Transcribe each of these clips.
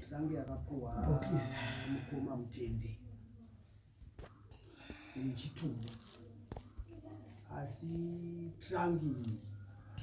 Tange yakapuwa mukoma mutenzi sechitumbu asi trangi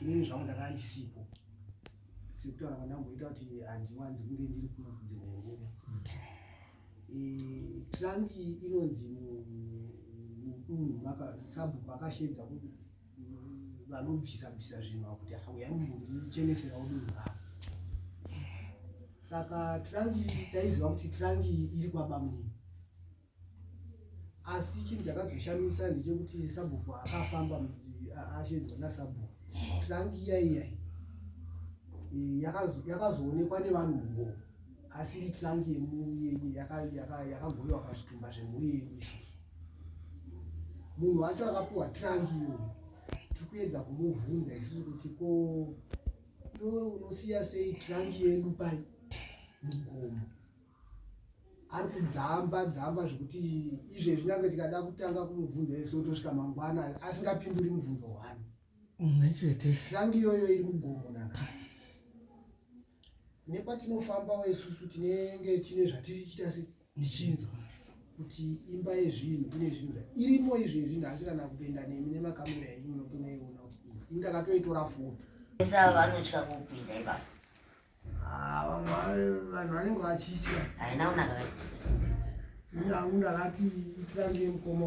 inini zvangu ndakanga ndisipo sekutaura kwandamboita kuti handiwanzi kunge ndiri kuno kudzimwe nguva eh, trangi inonzi mudunhu sabhuku akashedza vanobvisa bvisa zvinhu vakuti huyai mumbonichengeserawo dunhu ravo saka trangi taiziva kuti trangi iri kwabamunini asi chinhu chakazoshamisa ndechekuti sabhuku akafamba ashedzwa nasabhuku trangi yaiyai e, yakazoonekwa nevanhu mugoo asi iri trangi yakagoiwa pazvitumba zvemhuri yedu isusu munhu wacho akapuwa trangi iyoyo tiri kuedza kumubvunza isusu kuti ko iwe unosiya sei trangi yedu pai mugomo ari kudzamba dzamba zvekuti izvezvi nyange tikada kutanga kumubvunza ese otosvika mangwana asingapinduri mubvunzo hwani umwe chete trangi iyoyo iri mugomo nanhasi nepatinofambawo isusu tinenge tine zvatiri chita sei ndichinzwa kuti imba yezvinhu ine zvinhu zvairimo izvezvi ndasi kana kupinda nemi nemakamera enyu munotonoiona kuti iyi indakatoitora foto esa vanotya kupinda ipapo ah, vamwe vanhu vanenge vachitya haina kunaka ini hangu ndakati itira ndiye mukoma